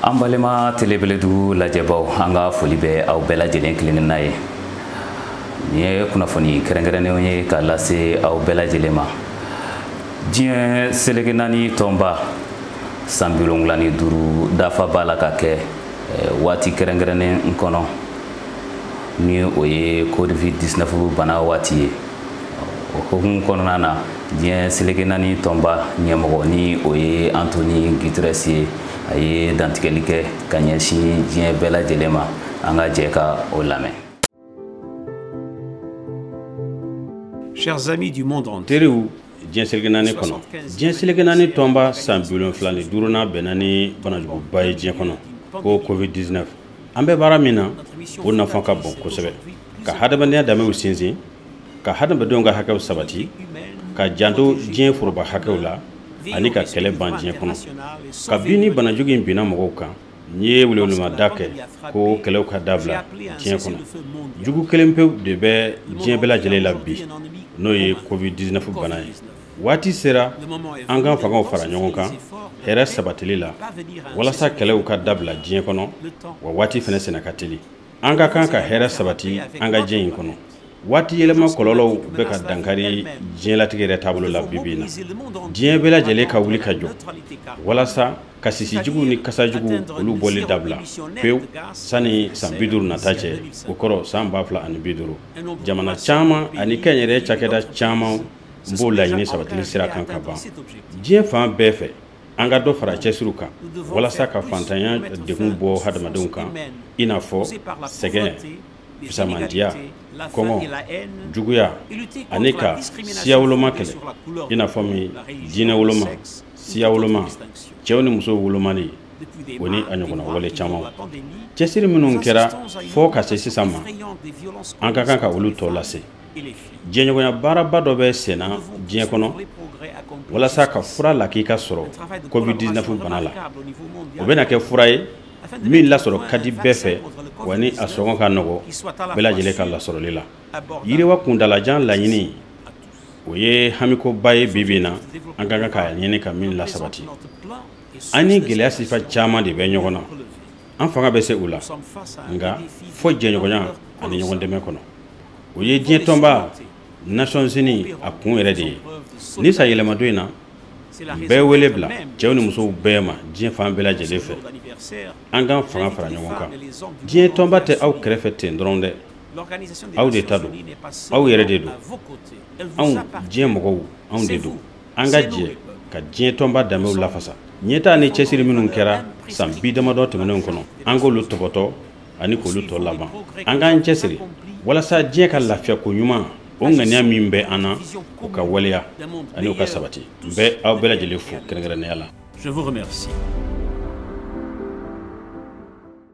an balima telebeledugu lajɛbaw an ka foli bɛ aw bɛɛ lajɛlen kelenna ye nin ye kunnafoni kɛrɛnkɛrɛnnenw ye ka lase aw bɛɛ lajɛlen ma diɲɛ seleke naani tɔnba san bi wolonwula ni duuru dafa b'a la ka kɛ waati kɛrɛnkɛrɛnnen kɔnɔ ni o ye covid 19 bana waati ye o hukumu kɔnɔna na diɲɛ seleke naani tɔnba ɲɛmɔgɔ ni o ye antoni guterres ye a ye dantigɛli kɛ ka ɲɛsin diɲɛ bɛɛ lajɛlen ma an ka jɛ ka o lamɛn Chers amis du monde entier, teriw diɲɛ seleke naani kɔnɔ diɲɛ seleke naani tɔnba san bi wolonfila ni duurunan bɛnna ni banajuguba ye diɲɛ kɔnɔ ko covid 19 an bɛ baara min na o nafa ka bon kosɛbɛ ka hadamadenya danbew sinsin ka hadamadenw ka hakɛw sabati ka janto diɲɛ foroba hakɛw la ani ka kɛlɛ ban diɲɛ kɔnɔ kabini banajugu in binna mɔgɔw kan ne ye welewelemada kɛ ko kɛlɛw ka dabila diɲɛ kɔnɔ jugu kelen pewu de bɛ diɲɛ bɛɛ lajɛlen la bi n'o ye covid 19 bana ye waati sera an ka fangaw fara ɲɔgɔn kan hɛrɛ sabatili la walasa kɛlɛw ka dabila diɲɛ kɔnɔ wa waati fɛnɛ senna ka teli an ka kan ka hɛrɛ sabati an ka diɲɛ in kɔnɔ waati yɛlɛma kɔlɔlɔw bɛ ka dankari diɲɛlatigɛ yɛrɛ taabolo la bi bi na diɲɛ bɛɛ lajɛlen ka wuli ka jɔ walasa ka sisijuguw ni kasajuguw olu bɔli dabila pewu sani san bi duuru nata cɛ o kɔrɔ san ba fila ani bi duuru jamana caman ani kɛnyɛrɛye cakɛda caman b'o laɲini sabatili sira kan kaban diɲɛ fan bɛɛ fɛ an ka dɔ fara cɛsiriw kan walasa ka faantanya degun bɔ hadamadenw kan i n'a fɔ sɛgɛn fisamantiya kɔngɔ juguya ani ka siya woloma kɛlɛ i n'a fɔ min diinɛ woloma siya woloma cɛw ni musow wolomali o ni a ɲɔgɔnna wale caman cɛsiri minnu kɛra fɔɔ ka se sisan ma an ka kan ka olu tɔ lase jɛɲɔgɔnya baaraba dɔ bɛ senna diɲɛ kɔnɔ walasa ka fura lakika sɔrɔ covid-19 bana la o bɛna kɛ fura ye min lasɔrɔ ka di bɛɛ fɛ wa ni a sɔngɔ ka nɔgɔ bɛɛ lajɛlen ka lasɔrɔli la yiriwa kuntaalajan laɲini o ye hamikoba ye bi bi na an ka kan k'a ɲini ka min lasabati an ni gɛlɛya sifa caman de bɛ ɲɔgɔn na an fanga bɛ se u la nka fɔ jɛɲɔgɔnya ani ɲɔgɔn dɛmɛ kɔnɔ o ye diɲɛ tɔnba nations unies a kun yɛrɛ de ye nin san yɛlɛmadon in na n bɛ wele bila cɛw ni musow bɛɛ ma diɲɛ fan bɛɛ lajɛlen fɛ an k'an fanga fara ɲɔgɔn kan diɲɛ tɔnba tɛ aw kɛrɛfɛ ten dɔrɔn dɛ aw de ta don aw yɛrɛ de don anw diɲɛ mɔgɔw anw de don an ka jɛ ka diɲɛ tɔnba danbew lafasa ɲɛtaa ni cɛsiri minnu kɛra san bi damadɔ tɛmɛnenw kɔnɔ an k'olu tɔbɔtɔ ani k'olu tɔ laban an k'an cɛsiri walasa diɲɛ ka lafiya koɲuman o ŋaniya min bɛ an na o ka waleya ani o ka sabati n bɛ aw bɛɛ lajɛlen fo kɛrɛnkɛrɛnnenya la